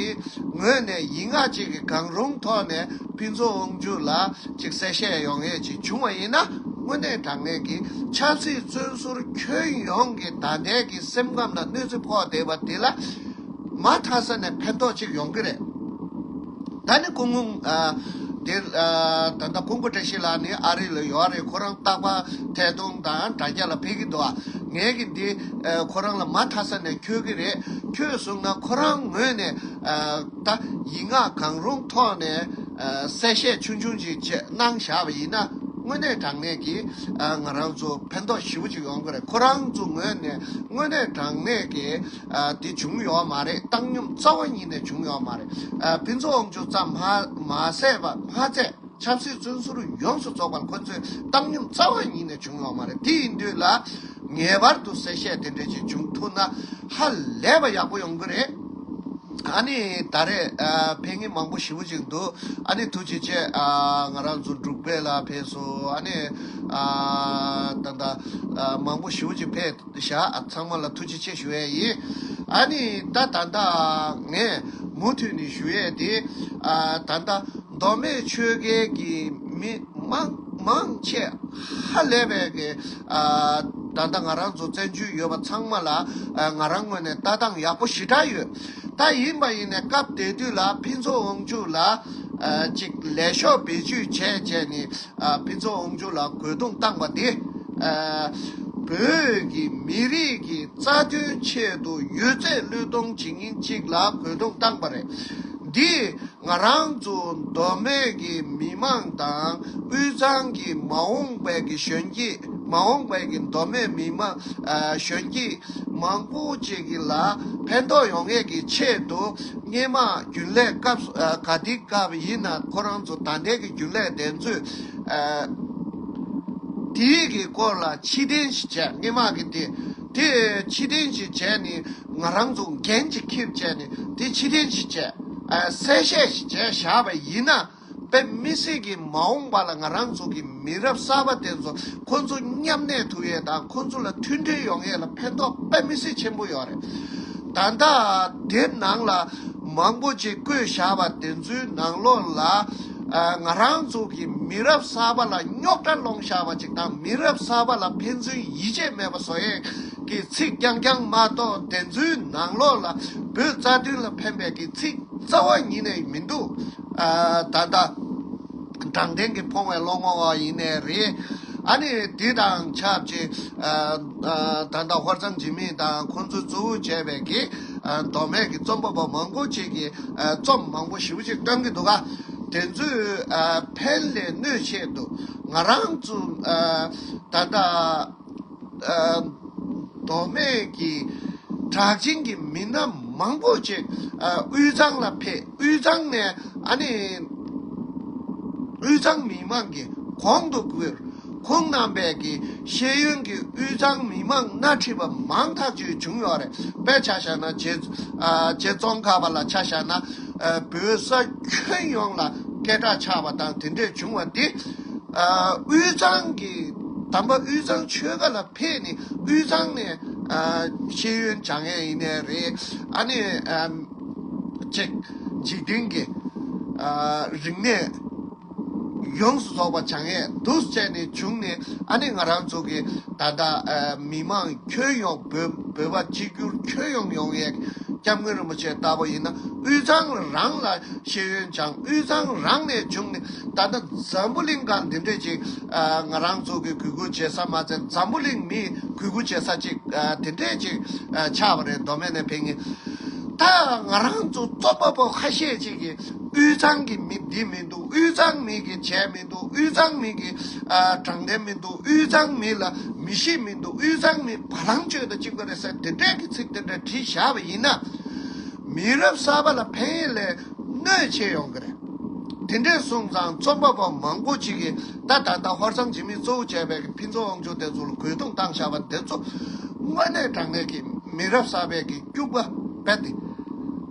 ངོས་ནས་ཡིག་ངག་ཅིག་གི་གང་རུང་ཐོག་ནས་ཕིན་ཚོགས་དབང་ཕྱུག་ལ། གཅིག་གསལ་བཤད་ཡོང་ངེས་ཅིག་བྱུང་བ་ཡིན་ན་དངོས་གནས་དྲང་ངེས་ཀྱི་ཆབ་སྲིད་བཙོན་ཟུར་ཁྱོན་ཡོངས་ཀྱི་ད་ལྟའི་གི་སེམས་ཁམས་ལ་གནོད་འཚེ་ཕོག་བསྡད་པ་དེ་ལ་མ་མཐའ་ས་ནས་ཕན་ཐོགས་ཅིག་ཡོང་གི་རེད། ད་ནི་ཀུང་ཀུང། འདིར། ད་ལྟ་ཀུང་བཀྲ་ཤིས་ལགས་ནི་ཨ་རི་ལ་ཡོད་རེད་ཁོ་རང་སྟག་པ་ཐད་སྟོང་དང་དྲ་རྒྱ་ལ་ཕེབས་ཀྱི་འདུག་ངས་ཀྱི་འདི་ཁོ་རང་ལ་མ་མཐའ་ས་ནས་འཁྱོལ་གྱི་རེད་ཁྱོད་བཟུང་ན་ཁོ་རང་ངོས་ནས། ད་ཡིག་ངག་གང་རུང་ཐོག་ནས་གསལ་བཤད་ཆུང་ཆུང་ཅིག་བཅས་གནང་བཞག་པ་ཡིན་ན་དངོས་གནས་དྲང་གནས་ཀྱིས་ང་རང་ཚོ་ཕན་ཐོགས་ཞིབ་པོ་ཅིག་ཡོང་གི་རེད་ཁོ་རང་ཚོ་ངོས་ནས་དངོས་གནས་དྲང་གནས་ཀྱིས་དེ་བྱུང་ཡོད་མ་རེད་བཏང་སྙོམས་རྩ་བ་ཉིད་ནས་བྱུང་ཡོད་མ་རེད་ཕུན་ཚོགས་དབང་ཕྱུག་ཙམ་མ་ཟད་པ་མ་ཚད། ཆབ་སྲིད་བཙོན་ཟུར་ཡོངས་སུ་རྫོགས་པར་ཁོ་ཚོས་བཏང་སྙོམས་རྩ་བ་ཉིད་ནས་བྱུང་ཡོད་མ་རེད་དེ་ཡིན་དུས་ལ། ངེས་པར་དུ་གསལ་བཤད་དེ་འདྲའི་ཞིག་བྱུང་ཐུབ་ན་ཧ་ལས་པ་ཡག་པོ་ཡོང་གི་རེད། ཨ་ནི་ད་རེས་ཕན་ངེས་མང་པོ་ཞི་བོ་ཅིག་འདུག་ཨ་ནི་ཐུགས་རྗེ་ཆེ། ང་རང་ཚོ་འབྲུག་པས་ལ་ཕེབས་སོ་ཨ་ནི། ད་ལྟ་མང་པོ་ཞི་བོ་ཅིག་ཕེབས་བཞག་ཚང་མ་ལ་ཐུགས་རྗེ་ཆེ་ཞུ་ཡས་ཡིན། ཨ་ནི་ད་ད་ད་ངས་མུ་མཐུད་ནས་ཞུ་ཡས་དེ། ད་ད་མདོ་སྨད་ཆོལ་ཁའི་གི་མི་དམངས་མང་ཆེ་ཧ་ལས་པས་གི་ད་ལྟ་ང་རང་ཚོ་བཙན་བྱོལ་ཡོད་པ་ཚང་མ་ལ་ང་རང་ངོས་ནས་ལྟ་སྟངས་ཡག་པོ་ཞི་དྲག་ཡོད་ད་ཡིན་པ་ཡིན་ནས་སྐབས་དེ་དུས་ལ་ཕིན་ཚོ་ཨོང་ཆུ་ལ་ཅིག་ལས་ཤོག་བེད་སྤྱོད་བྱས་བྱས་ནི་ཕིན་ཚོ་ཨོང་ཆུ་ལ་རྒོལ་རྡུང་བཏང་པ་དེ་བོད་གི་མི་རིགས་གི་རྩ་དོན་ཆེད་དུ་ཡོད་ཚད་བློས་གཏོང་བྱེད་ཉིན་ཅིག་ལ་རྒོལ་རྡུང་བཏང་པ་རེད། འདིས་ང་རང་ཚོ་མདོ་སྨད་ཀྱི་མི་དམངས་དང་དབུས་གཙང་གི་མ་འོངས་པའི་གཞོན་སྐྱེས་མ་འོངས་པའི་མདོ་སྨད་མི་དམངས་གཞོན་སྐྱེས་མང་པོ་ཅིག་གི་ལ་ཕན་ཐོགས་ཡོང་ངེས་ཀྱི་ཆེད་དུ་སྙེ་མ་རྒྱུན་ལས་སྐབས་ག་དེའི་སྐབས་ཡིན་ན་ཁོ་རང་ཚོ་ད་ལྟའི་གི་རྒྱུན་ལས་བདེན་རྫུན་དེའི་གི་སྐོར་ལ་ཕྱི་དྲན་ཞིག་བྱས་སྙེ་མ་གི་དེ། དེ་ཕྱི་དྲན་ཞིག་བྱས་ནས་ང་རང་ཚོ་འགན་ཅིག་ཁེབས་བྱས་ནས་དེ་ཕྱི་དྲན་ཞིག་བྱས། གསལ་བཤད་ཞིག་བྱས་བཞག་པ་ཡིན་ན། བོད་མི་སེར་གྱི་མ་འོངས་པ་ལ་ང་རང་ཚོ་གི་མི་རབས་གསར་པ་དེ་ཚོ་ཁོ་ཚོ་མཉམ་གནས་ཐུབ་ཡས་དང་ཁོ་ཚོ་ལ་མཐུན་སྒྲིལ་ཡོང་ཡས་ལ་ཕན་ཐོག་དཔེ་མི་སེར་ཆེན་པོ་ཡོད་རེད། ད་ལྟ་དེབ་ནང་ལ་མང་པོ་ཅིག་བཀོད་བཞག་པ་དེ་ཚོའི་ནང་ལོགས་ལ། ང་རང་ཚོ་གི་མི་རབས་གསར་པ་ལ་རྙོག་དྲ་སློང་བཞག་པ་ཅིག་དང་མི་རབས་གསར་པ་ལ་ཕན་ཚུན་ཡིད་ཆེས་མེད་པ་བཟོ་ཡས་ཀྱི་ཚིག་རྐྱང་རྐྱང་མ་གཏོགས་བདེན་རྫུན་ནང་ལོགས་ལ་འབོད་རྩ་དོན་ལ་ཕན་པའི་གི་ཚིག་རྩ་བ་ཉིད་ནས་མི་འདུག་ད་ལྟ་དྲང་བདེན་གྱི་ཕོང་བའི་སློང་མོ་བ་ཡིན་ནས་རེད་ཨ་ནི་དེ་དང་ཆབས་ཅིག་ད་ལྟ་ཧོར་གཙང་འཇིགས་མེད་དང་ཁོང་ཚོས་གཙོ་བོ་བྱས་པའི་གི། མདོ་སྨད་ཀྱི་རྩོམ་པ་པོ་མང་པོ་ཅིག་གིས་རྩོམ་མང་པོ་ཞིབ་ཅིག་བཀྲམ་གྱི་འདུག་ག་དེ་ཚོའི་ཕན་ལས་གནོད་ཆེ་འདུག་ང་རང་ཚོ་ད་ལྟ་མདོ་སྨད་ཀྱི་གྲགས་ཅན་གྱི་མི་སྣ་མང་པོ་ཅིག་དབུས་གཙང་ལ་ཕེབས་དབུས་གཙང་ནས་ཨ་ནི་དབུས་གཙང་མི་མང་གི་གོང་དུ་བཀུར་ཁོང་རྣམ་པས་ཀྱི་ཤེས་ཡོན་གྱི་དབུས་གཙང་མི་མང་སྣ་ཁྲིད་པ་མང་ཐག་ཆོད་བྱུང་ཡོད་རེད་པས་ཆ་བཞག་ན་རྗེ་ཙོང་ཁ་པ་ལ་ཆ་བཞག་ན་བོད་ས་ཁྱོན་ཡོངས་ལ་སྐད་གྲགས་ཆགས་པ་དང་དེ་འདྲས་བྱུང་བ་དེ་དབུས་གཙང་གི་དམ་པ་དབུས་གཙང་ཆོལ་ཁ་ལ་ཕེབས་ནས་དབུས་གཙང་ནས་ཤེས་ཡོན་སྦྱང་ཡས་ཡིན་ནས་རེད་ཨ་ནི་གཅིག་འཇིག་རྟེན་གྱི་རིག་གནས། ཡོངས་སུ་རྫོགས་པ་བྱང་ཡས་བདུད་བཙན་ནས་བྱུང་ནས་ཨ་ནི་ང་རང་ཚོ་གི་ད་ལྟ་མི་མང་ཁྱོན་ཡོངས་བོད་བོད་པ་གཅིག་གྱུར་ཁྱོན་ཡོངས་ཡོང་ཡས་སྐྱབས་མགོན་རིན་པོ་ཆེ་ལྟ་བུ་ཡིན་ན་དབུས་གཙང་རང་ལ་ཤེས་ཡོན་བྱང་དབུས་གཙང་རང་ནས་བྱུང་ནས་ད་ལྟ་འཛམ་བུ་གླིང་གང་འདི་འདྲས་ཅིག་ང་རང་ཚོ་གི་གུས་བཀུར་བྱེད་ས་མ་ཚད་འཛམ་བུ་གླིང་མིས་གུས་བཀུར་བྱེད་ས་ཅིག་འདི་འདྲས་ཅིག་ཆགས་པ་རེད་མདོ་སྨད་ནས་ཕེབས་ངེས་ད་ང་རང་ཚོ་རྩོམ་པ་པོ་ཁ་ཤས་ཅིག་གིས་དབུས་གཙང་གི་མི་བདེ་མི་འདུག་དབུས་གཙང་མི་གི་བྱས་མི་འདུག་དབུས་གཙང་མི་གི་དྲང་བདེན་མི་འདུག་དབུས་གཙང་མི་ལ་མི་ཤེས་མི་འདུག་དབུས་གཙང་མི་བ་ལང་སྤྱོད་དང་གཅིག་པ་རེད་ཟེར་དེ་འདྲས་ཀྱི་ཚིག་དེ་འདྲ་བྲིས་བཞག་པ་ཡིན་ན། མི་རབས་གསར་པ་ལ་ཕན་ཡོད་ལས་གནོད་ཆེ་ཡོང་གི་རེད། དེ་འདྲས་གསུངས་ཙང་རྩོམ་པ་པོ་མང་པོ་ཅིག་གིས་ད་ད་ལྟ་ཧོར་གཙང་འཇིགས་མེད་གཙོ་བོ་བྱས་པའི་ཕིན་ཚོ་དབང་ཕྱུག་དེ་ཚོ་ལ་རྒོལ་རྡུང་བཏང་བཞག་པ་དེ་ཚོ་དངོས་གནས་དྲང་གནས་ཀྱི་མི་རབས་གསར་པའི་གི་སྐྱུག་པ་བེད་དེ།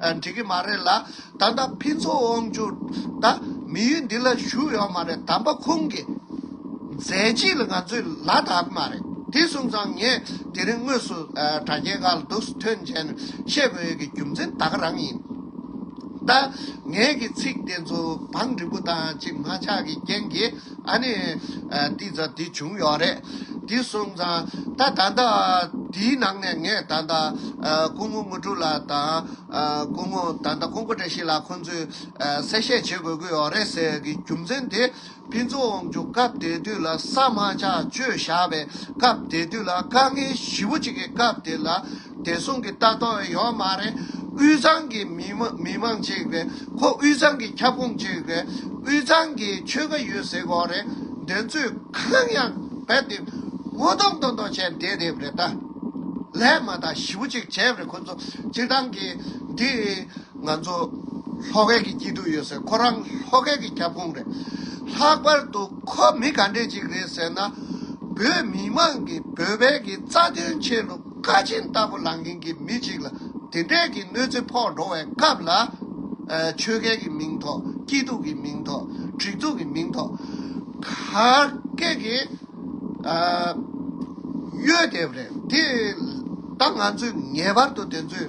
འགྲིག་གི་མ་རེད་ལ། ད་ལྟ་ཕིན་ཚོགས་དབང་བསྒྱུར་ད་མི་ཡུལ་འདི་ལ་ཞུགས་ཡོད་མ་རེད་དམ་པ་ཁོང་གི་མཛད་རྗེས་ལ་ང་ཚོས་ལ་དྭགས་གི་མ་རེད་དེ་གསུངས་ཙང་ངས་དེ་རིང་དངོས་སུ་དྲ་རྒྱའི་ཁ་ལ་འདུག་སུ་ཐོན་མཇལ་ནས་བཤད་དགོས་ཡོད་ཀྱི་རྒྱུ་མཚན་ད་ག་རང་ཡིན། ད་ངས་ཀྱི་ཚིག་དེ་ཚོ་བང་འགྲིག་པོ་དང་གཅིག་མ་ཆགས་ཀྱི་རྐྱེན་གྱིས། ཨ་ནི། དེ་ཚོ་དེ་བྱུང་ཡོད་རེད། དེ་གསུངས་ཙང། ད་ད་ལྟ། དེའི་ནང་ནས་ངས་ད་ལྟ། སྐུ་ངོ་དངོས་གྲུབ་ལགས་དང། སྐུ་ངོ་ད་ལྟ་ཀོང་པོ་བཀྲ་ཤིས་ལགས་ཁོང་ཚོས། གསལ་བཤད་བྱེད་དགོས་ཀྱི་ཡོད་རེད་ཟེར་གྱི་རྒྱུ་མཚན་དེ། ཕན་ཚུན་འོང་རྒྱུ་སྐབས་དེ་དུས་ལ་ས་མ་ཆག་སྤྱོད་བཞག་པའི་སྐབས་དེ་དུས་ལ་དཀའ་ངལ་ཞི་བོ་གཅིག་གི་སྐབས་དེ་ལ། བདེ་སྲུང་གི་ལྟ་སྟངས་ཡོད་མ་རེད། དབུས་གཙང་གི་མི་དམངས་གཅིག་རེད། ཁོ་དབུས་གཙང་གི་ཁྱབ་ཁོངས་གཅིག་རེད། དབུས་གཙང་གི་ཆོལ་ཁ་ཡོད་ཟེར་གོ་རེད། དེ་ཚོས་གང་ཡང་རྦད་དེ་ངོ་གདོང་གཏོང་གཏོང་བྱས་བསྡད་རེད་བ་རེད་ད། ལས་མ་དག་ཞིབ་པོ་ཅིག་བྱས་བ་རེད་ཁོ་ཚོ་སྤྱིར་བཏང་གི་འདི་ང་ཚོ་ལྷོ་ཁའི་གི་སྐྱིད་སྡུག་ཡོད་ཟེར་ཁོ་རང་ལྷོ་ཁའི་གི་ཁྱབ་ཁོངས་རེད། ལྷག་པར་དུ་ཁོ་མི་ག་འདྲས་ཅིག་རེད་ཟེར་ན། བོད་མི་དམངས་གི་བོད་པའི་གི་རྩ་དོན་ཆེད་ལུགས། བཀའ་སྤྱི་ལྟ་བུ་ལངས་མཁན་གྱི་མི་གཅིག་ལ་དེ་འདྲས་ཀྱི་གནོད་འཚེ་ཕོག་འགྲོ་བའི་སྐབས་ལ། ཆོལ་སྐལ་གྱི་མིང་ཐོག་སྐྱིད་སྡུག་གི་མིང་ཐོག་འགྲིག་འདུག་གི་མིང་ཐོག་ག་སྐད་ཀྱི་གཡོལ་འདེབས་རེད་དེ། ད་ང་ཚོས་ངེས་པར་དུ་དེ་ཚོའི།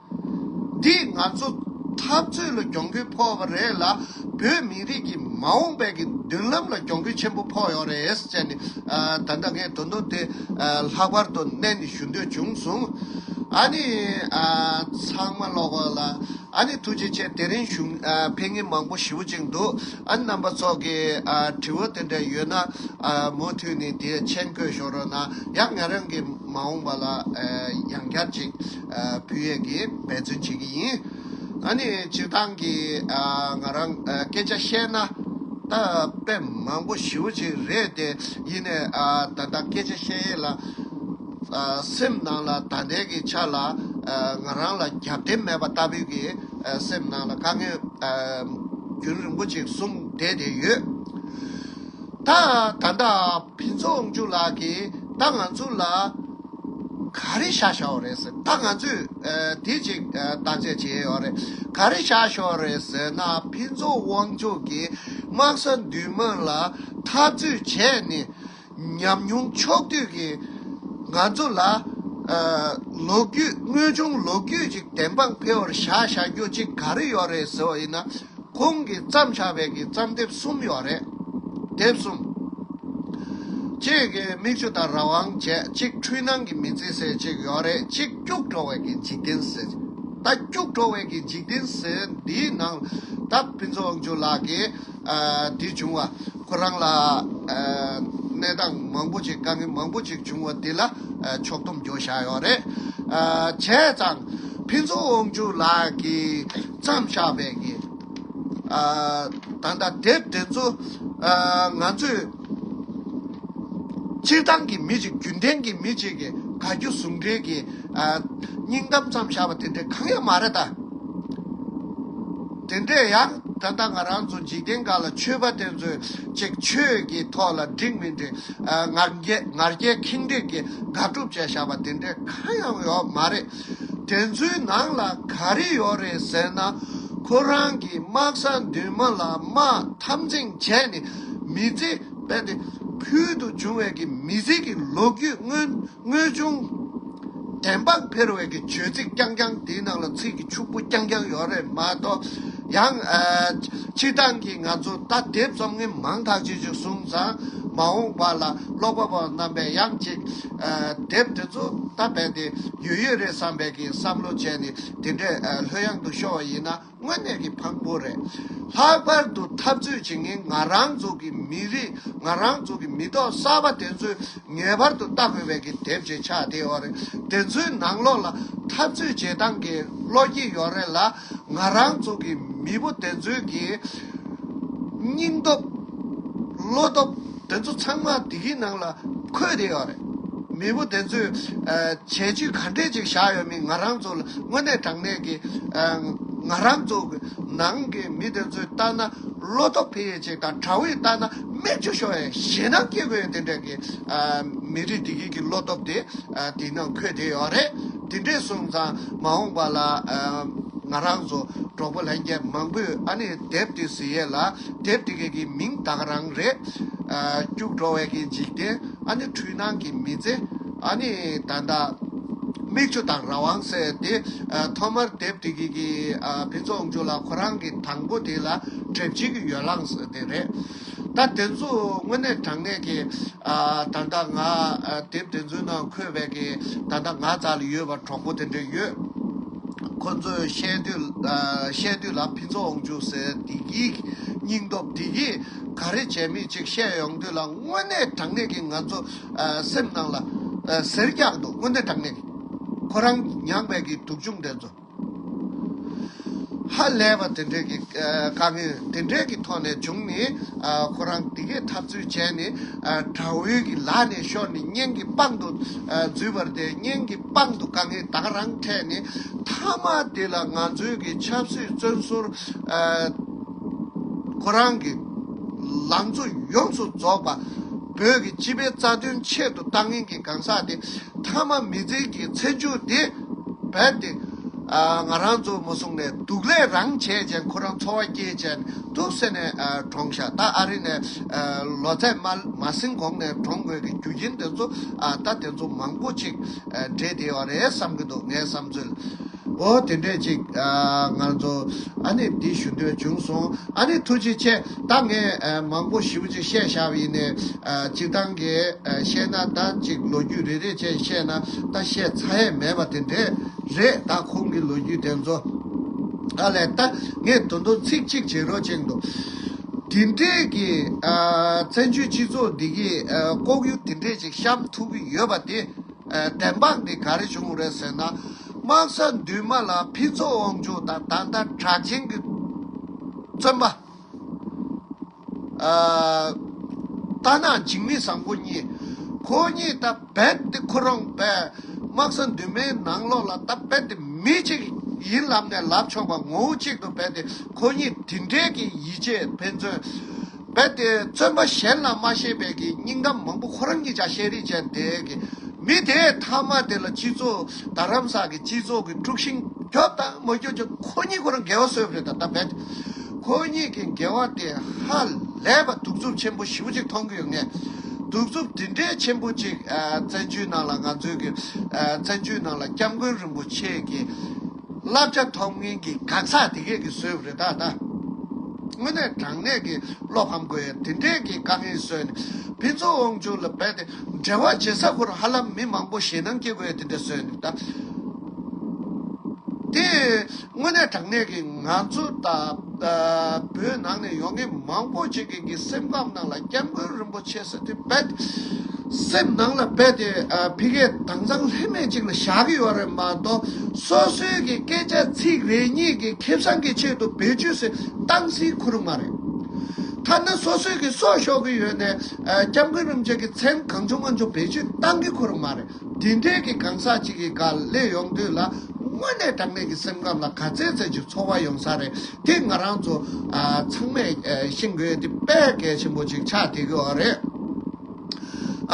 འདིས་ང་ཚོ་འཐབ་རྩོད་ལ་གྱོང་གུད་ཕོག་པ་རེད་ལ་བོད་མི་རིགས་ཀྱི་མ་འོངས་པའི་གི་མདུན་ལམ་ལ་གྱོང་གུད་ཆེན་པོ་ཕོག་ཡོད་རེད་ཟེར་ནས་ད་ལྟ་ངས་དོན་དུ་དེ་ལྷག་པར་དུ་གནད་ནས་ཞུ་འདོད་བྱུང་སོང། ཨ་ནི། ཚང་མ་ཀློག་པ་ལ་ཨ་ནི་ཐུགས་རྗེ་ཆེ་དེ་རིང་གཞུང་འཕེན་ངན་མང་པོ་ཞིབ་ཅིང་འདུག་ཨ་ནི་རྣམ་པ་ཚོགས་ཀྱི་དྲི་བ་དེ་འདྲ་ཡོད་ན་མུ་མཐུད་ནས་དེ་མཆན་བཀོད་ཞོར་རོགས་གནང་ཡང་ང་རང་གི་མ་འོངས་པ་ལ་ཡང་བསྐྱར་ཅིག་བུ་ཡོད་ཀྱི་འབད་བརྩོན་བྱེད་ཀྱི་ཡིན། ད་ནི་སྤྱིར་བཏང་གི་ང་རང་སྐད་ཆ་བཤད་ན། ད་དཔེ་མང་པོ་ཞིབ་བོ་ཅིག་རེད་དེ་ཡིན་ནས་ད་ལྟ་སྐད་ཆ་བཤད་ཡས་ལ། སེམས་ནང་ལ་ད་ལྟའི་གི་ཆ་ལ་ང་རང་ལ་རྒྱབ་རྟེན་མེད་པ་ལྟ་བུའི་གི་སེམས་ནང་ལ་དཀའ་ངལ་རྒྱུན་རིང་པོ་ཅིག་བཟུང་བསྡད་དེ་ཡོད། ད་ད་ལྟ། ཕུན་ཚོགས་དབང་ཕྱུག་ལགས་ཀྱིས་ད་ང་ཚོ་ལ་ག་རེ་བྱ་ཞོག་རེད་ཟེར་ད་ང་ཚོས་དེ་ཅིག་བརྟག་དཔྱད་བྱས་ཡོག་རེད་ག་རེ་བྱ་ཞོག་རེད་ཟེར་ན་ཕུན་ཚོགས་དབང་ཕྱུག་གིས་དམག་ས་འདུས་དམག་ལ་འཐབ་རྩོད་བྱས་ནས་ཉམས་མྱོང་ཕྱོགས་བསྡུས་ཀྱིས་ང་ཚོ་ལ་ལོ་རྒྱུས་དངོས་བྱུང་ལོ་རྒྱུས་ཅིག་བདེན་དཔང་འཕེལ་བར་བྱ་བྱ་རྒྱུ་ཅིག་ག་རེ་ཡོག་རེད་ཟེར་བ་ཡིན་ན། ཁོང་གིས་བརྩམས་ཆ་བེད་ཀྱི་བརྩམས་དེབ་གསུམ་ཡོད་རེད། དེབ་གསུམ། གཅིག་གི་མིག་ཆུ་དང་རང་དབང་བྱེད་གཅིག་འཁྲུལ་སྣང་གི་མི་ཚེ་ཟེར་གཅིག་ཡོད་རེད་གཅིག་སྐྱུག་བྲོ་བས་ཀྱི་འཇིག་རྟེན་ཟེར། ད་སྐྱུག་བྲོ་བས་ཀྱི་འཇིག་རྟེན་ཟེར་འདིའི་ནང་ད་ཕུན་ཚོགས་དབང་ཕྱུག་ལགས་ཀྱིས་འདི་བྱུང་བ་ཁོ་རང་ལ་གནས་སྟངས་མང་པོ་ཅིག་དཀའ་ངལ་མང་པོ་ཅིག་བྱུང་བ་འདི་ལ་ཕྱོགས་སྡོམ་རྒྱོ་བཞག་ཡོད་རེད། བྱས་ཙང་ཕུན་ཚོགས་དབང་ཕྱུག་ལགས་ཀྱིས། མཚམས་བཞག་པའི་ངེས། ད་ལྟ་དེབ་དེ་ཚོ་ང་ཚོས་སྤྱིར་བཏང་གི་མི་གཅིག་རྒྱུན་ལྡན་གྱི་མི་གཅིག་གི་ག་རྒྱུ་ཟུང་འབྲེལ་གྱི་སྙིང་གཏམ་ཙམ་བཞག་པ་དེ་འདྲའི་གང་ཡང་མ་རེད་ད། དེ་འདྲས་ཡང་ད་ལྟ་ང་རང་ཚོ་འཇིག་རྟེན་འགའ་ལ་ཆོས་པ་དེ་ཚོས་ཅིག་ཆོས་ཀྱི་ཐོག་ལ་འགྲིག་མི་འགྲིག་ངར་སྐད་ཁེངས་དྲེགས་ཀྱི་དགག་སྒྲུབ་བྱས་བཞག་པ་དེ་འདྲས་གང་ཡང་ཡོད་མ་རེད། དྲན་ཚུལ་ནང་ལ་ག་རེ་ཡོད་རེད་ཟེར་ན་ཁོ་རང་གིས་དམག་ས་མདུན་མ་ལ་དམག་འཐབ་འཛིང་བྱས་ནས་མི་ཚེ་སྤེལ་ཏེ་ཕུལ་དུ་བྱུང་བའི་གི་མི་ཟིལ་གྱི་ལོ་རྒྱུས་དངོས་བྱུང་དྲན་པར་ཕེར་བའི་གི་བྱོལ་ཚིག་རྐྱང་རྐྱང་དེའི་ནང་ལ་ཚིག་གི་ཕྱུག་པོ་རྐྱང་རྐྱང་ཡོད་རེད་མ་གཏོགས་ཡང། སྤྱི་བཏང་གིས་ང་ཚོ་ད་དེབ་རྩོམ་ངན་མང་དག་ཅིག་ཅིག་གསུངས་ཙང་མ་འོངས་པ་ལ་ཀློག་པ་པོ་རྣམ་པས་ཡང་ཅིག་དེབ་དེ་ཚོ་ད་རྦད་དེ་ཡོད་ཡོད་རེད་བསམ་པའི་གིས་བསམ་བློ་བྱས་ནས་དེ་འདྲའི་ལྷོད་གཡང་དུ་ཤོར་བ་ཡིན་ན་དངོས་གནས་ཀྱི་ཕངས་པོ་རེད། ལྷག་པར་དུ་འཐབ་རྩོད་བྱེད་མཁན་ང་རང་ཚོ་གི་མི་རིགས་ང་རང་ཚོ་གི་མི་ཐོག་གསར་པ་དེ་ཚོས་ངེས་པར་དུ་ལྟ་དགོས་པའི་གི་དེབ་ཅིག་ཆགས་བསྡད་ཡོད་རེད། དེ་ཚོའི་ནང་ལོགས་ལ་འཐབ་རྩོད་བྱེད་སྟངས་ཀྱི་བློ་སྐྱེད་ཡོད་རེད་ལ། ང་རང་ཚོ་གི་མི་བུ་དེ་ཚོའི་གི་སྙིང་སྟོབས། བློ་སྟོབས་དེ་ཚོ་ཚང་མ་དེ་གི་ནང་ལ་འཁོད་བསྡད་ཡོད་རེད། མི་བུ་དེ་ཚོས་བྱས་རྗེས་ག་འདྲས་ཅིག་བཞག་ཡོད་མིན་ང་རང་ཚོ་ལ་དངོས་གནས་དྲང་གནས་གི་ང་རང་ཚོ་གི་ནང་གི་མི་དེ་ཚོས་བལྟ་ན་བློ་སྟོབས་འཕེལ་ཡས་ཅིག་དང་དྲ་བས་བལྟ་ན་མིག་ཆུ་ཤོར་ཡས་ཞེད་སྣང་སྐྱེ་དགོས་ཡོད་དེ་འདྲས་གི་མི་རིགས་དེ་གི་གི་བློ་སྟོབས་དེ་དེ་ནང་འཁོད་བསྡད་ཡོད་རེད། འདི་འདྲའི་གསུང་ཙང་མ་འོངས་པ་ལ། ང་རང་ཚོ་གྲོགས་པོ་ལྷན་རྒྱས་མང་པོས་ཨ་ནི་དེབ་འདི་ཟིན་ཡས་ལ་དེབ་འདི་ག་གི་མིང་དག་རང་རེད། སྐྱུག་བྲོ་བས་ཀྱི་འཇིག་རྟེན་ཨ་ནི་འཁྲུལ་སྣང་གི་མི་ཚེ། ཨ་ནི་ད་ལྟ། མིག་ཆུ་དང་རང་དབང་ཟེར་ཏེ། ཐོག་མར་དེབ་འདི་ག་གི་ཕིན་ཚོགས་མཇུག་ལ་ཁོ་རང་གི་དང་པོ་དེ་ལ་གྲེབ་བྱེད་ཀྱི་ཡོ་ལངས་དེ་རེད། ད་དེ་ཚོ་དངོས་གནས་དྲང་གནས་ཀྱི་ད་ལྟ་ང་དེབ་དེ་ཚོའི་ནང་འཁོད་པའི་ཀྱི་ད་ལྟ་ང་ཙ་ལ་ཡོད་པ་གྲོགས་པོ་དེ་འདྲས་ཡོད། ཁོ་ཚོས་བཤད་བཤད་དུས་ལ་ཕི་ཚོ་འོང་བཅུག་ཟེར་བདེ་སྐྱིད་སྙིང་སྟོབས་བདེ་སྐྱིད་ག་རེ་བྱས་མིན་ཅིག་བཤད་ཡོང་དུས་ལ་དངོས་གནས་དྲང་གནས་ཀྱི་ང་ཚོ་སེམས་ནང་ལ་ཟེར་རྒྱག་འདུག་དངོས་གནས་དྲང་གནས་ཀྱི་ཁོ་རང་མྱངས་པའི་ཀྱི་དུག་ཆུང་དེ་ཚོ། ཧ་ལས་པ་དེ་འདྲས་ཀྱི་དཀའ་ངལ་དེ་འདྲས་ཀྱི་ཐོག་ནས་བྱུང་ནས་ཁོ་རང་འདི་གས་འཐབ་རྩོད་བྱས་ནས་དགྲ་བོའི་གི་ལག་ནས་ཤོར་ནས་གཉེན་གྱི་པང་དུ་འཛུལ་བར་དེ་གཉེན་གྱི་པང་དུ་དཀའ་ངལ་དག་རང་འཕྲད་ནས་མཐའ་མ་དེ་ལ་ང་ཚོའི་གི་ཆབ་སྲིད་བཙོན་ཟུར་ཁོ་རང་གི་ལང་ཚོ་ཡོངས་སུ་རྫོགས་པ་བོད་ཀྱི་སྤྱི་པའི་རྩ་དོན་ཆེད་དུ་ལྟ་ངན་གྱི་གང་ཟག་དེ་མཐའ་མ་མི་ཚེ་གི་ཚེ་མཇུག་འདི་རྦད་དེ། ང་རང་ཚོ་མོ་སྲུང་ནས་འདུག་ལས་རང་བྱས་ཅན་ཁོ་རང་འཚོ་བ་སྐྱེལ་ཅན་འདུག་ཟེར་ནས་གྲོངས་ཤག་ད་ཨ་རི་ནས་ལོ་ཚད་མ་ཟིན་གོང་ནས་གྲོངས་དགོས་ཀྱི་རྒྱུ་རྐྱེན་དེ་ཚོ་ད་དེ་ཚོ་མང་པོ་ཅིག་འདྲེས་བསྡད་ཡོད་རེད་བསམ་གྱི་འདུག་ངའི་བསམ་ཚུལ། འོ་དེ་འདྲས་ཅིག། ངར་མཚོ། ཨ་ནི་འདི་ཞུ་འདོད་བྱུང་སོང། ཨ་ནི་ཐུགས་རྗེ་ཆེ། ད་ངས་མང་པོ་ཞིབ་ཅིག་བཤད་བཞག་ཡིན་ནས། གཅིག་ཐང་གས་བཤད་ན་ད་ཅིག་ལོ་རྒྱུས་རེ་རེ་བཅས་བཤད་ན་ད་བཤད་ཚ་ཡས་མེད་པ་དེ་འདྲས་རེད་ད་ཁོང་གི་ལོ་རྒྱུས་དེ་ཚོ། ཨ་ལས་ད་ངས་དོ་འདུག་ཚིག་གཅིག་བྱེད་རོགས་གཅིག་འདུག། དེ་འདྲས་ཀྱི། བཙན་བྱོལ་སྤྱི་ཚོགས་འདི་གི་ལྐོག་གཡུ་དེ་འདྲས་ཅིག་བཤམས་ཐུབ་ཀྱི་ཡོད་པ་དེ། བདེན་དཔང་འདི་ག་རེ་བྱུང་རེད་ཟེར་ན། དམག་ས་འདུས་མ་ལ་ཕུན་ཚོགས་དབང་ཕྱུག་དང་ད་ལྟ་གྲགས་ཆེན་གྱི་བཙོན་པ། རྟ་ནག་འཇིགས་མེད་བཟང་པོ་གཉིས། ཁོ་གཉིས་ད་རྦད་དེ་ཁོ་རང་པས་དམག་ས་འདུས་མའི་ནང་ལོགས་ལ་ད་རྦད་དེ་མི་གཅིག་ཡིན་ལབ་ནས་ལབ་ཆོག་པ་ངོ་བོ་གཅིག་ཏུ་རྦད་དེ་ཁོ་གཉིས་དེ་འདྲས་ཀྱི་ཡིད་ཆེས་ཕན་ཚུན། རྦད་དེ་བརྩོན་པ་གཞན་ལ་མ་ཤེས་པའི་གི་སྙིང་གཏམ་མང་པོ་ཁོ་རང་གི་ཅག་ཤེས་རིག་ཅན་དེ་གི་མི་དེས་མཐའ་མ་དེ་ལ་སྤྱི་ཚོགས་རྡ་རམ་ས་གི་སྤྱི་ཚོགས་གི་དཀྲུགས་ཤིང་རྒྱོབ་དང་མ་རྒྱོབ་ཀྱང་ཁོ་གཉིས་ཁོ་རང་འགལ་བ་བཟོས་པ་རེད་ད་ད་རྦད་ཁོ་གཉིས་གི་འགལ་བ་དེ་ཧ་ལས་པ་གདུག་རྩུབ་ཆེན་པོ་ཞི་བོ་ཅིག་མཐོང་གི་ཡོད་ངེས་གདུག་རྩུབ་དེ་འདྲའི་ཆེན་པོ་ཅིག་བཙན་བྱོལ་ནང་ལ་ང་ཚོའི་གི་བཙན་བྱོལ་ནང་ལ་སྐྱབས་མགོན་རིན་པོ་ཆེ་གི། བསླབ་བྱ་ཐོབ་མཁན་གྱི་གག་ཚགས་དེ་གས་ཀྱི་བཟོས་པ་རེད་ད་ལྟ། དངོས་གནས་དྲང་གནས་ཀྱི་བློ་ཕམ་དགོས་ཡ་དེ་འདྲས་ཀྱི་དཀའ་ངལ་བཟོས་ནས་ཕན་ཚུན་དབང་ཕྱུག་ལ་འབད་དེ་འབྲེལ་བ་བྱེད་ས་ཁུར་ཧ་ལམ་མི་མང་པོ་ཞེད་སྣང་སྐྱེ་དགོས་ཡ་དེ་འདྲས་བཟོས་ནས་ད། དེ་དངོས་གནས་དྲང་གནས་ཀྱི་ང་ཚོ་ད་བོད་ནང་ནས་ཡོང་མཁན་མང་པོ་ཅིག་གི། ཁྱེད་ཀྱི་སེམས་ཁམས་ནང་ལ་སྐྱབས་མགོན་རིན་པོ་ཆེ་སི་ཏི་བེད། སེམས་ནང་ལ་རྦད་དེ་ཕི་གས་དྭངས་གཙང་ལྷད་མེད་ཅིག་ལ་བཞག་གི་ཡོད་རེད་མ་གཏོགས་སོ་སོའི་གི་སྐད་ཆ་ཚིག་རེ་གཉིས་གི་ཁེ་བཟང་གི་ཆེད་དུ་བེད་སྤྱོད་སི་སྟངས་སི་ཁུ་རུ་མ་རེད། ཐ་ན་སོ་སོའི་གི་སྲོག་ཤོར་གི་ཡོད་ནས་སྐྱབས་མགོན་རིན་པོ་ཆེ་གི་མཚན་གང་བྱུང་མ་བྱུང་བེད་སྤྱོད་གཏང་གི་ཁུ་རུ་མ་རེད། དེ་འདྲའི་གི་གང་ཟག་ཅིག་གི་ག་ལེ་ཡོང་དུས་ལ་དངོས་གནས་དྲང་གནས་ཀྱི་སེམས་ཁམས་ལ་ག་ཚད་ཚད་ཅིག་ཚོར་བ་ཡོང་ས་རེད་དེ་ང་རང་ཚོ་ཚང་མས་ཤེས་དགོས་དེ་དཔེ་གལ་ཆེན་པོ་ཅིག་ཆགས་དེ་གི་བ་རེད།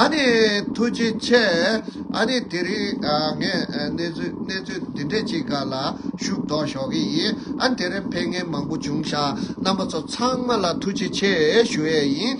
ཨ་ནི་ཐུགས་རྗེ་ཆེ། ཨ་ནི་དེ་རིང་ངས་གནས་ཚུལ་འདི་འདྲས་ཅིག་ག་ལ་ཞུ་དོགས་ཞོག་གི་ཡིན་ཨ་དེ་རིང་ཕན་ངན་མང་པོ་བྱུང་ཤག་རྣམ་པ་ཚོ་ཚང་མ་ལ་ཐུགས་རྗེ་ཆེ་ཞུ་ཡས་ཡིན།